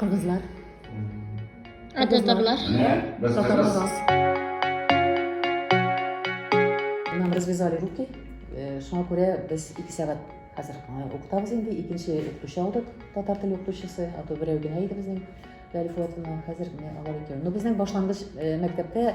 Кыргызлар. Ә татарлар? Татарлар. Нам развязали руки. Э, шуңа күрә без 2 сәгать хәзер э, укытабыз инде. Икенче укытучы алдык, татар теле укытучысы, а то берәү генә иде безнең. Хәзер менә алар икәү. Но безнең башлангыч э, мәктәптә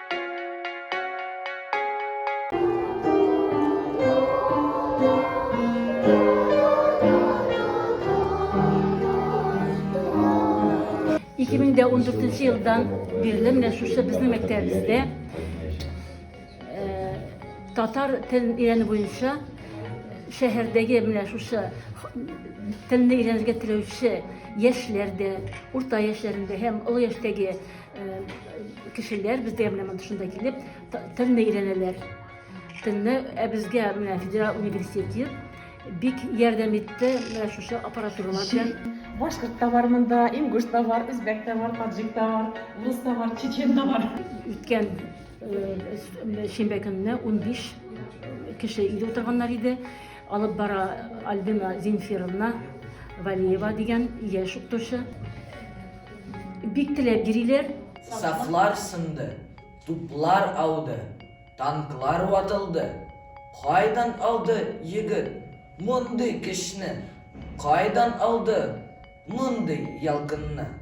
Ике мең дә он дүртенче елдан бирле менә шушы безнең мәктәбебездә э, татар телен өйрәнү буенча шәһәрдәге менә шушы телне өйрәнергә теләүче яшьләр дә, урта яшьләрендә һәм олы яшьтәге кешеләр бездә менә монда шунда килеп телне өйрәнәләр телне ә безгә менә федерал университеты бик ярдәм итте менә шушы аппаратуралар белән башкорт та бар монда ингуш та бар үзбәк та бар таджик та бар рус та бар чечен да бар үткән шимбә көнне ун биш кеше өйдә утырганнар иде алып бара альбина зинфировна валиева дигән яшь укытучы Бик теләп йөриләр. Сафлар сынды, туплар ауды, танклар ватылды. Кайдан алды егет мондый көчне? Кайдан алды мондый ялкынны?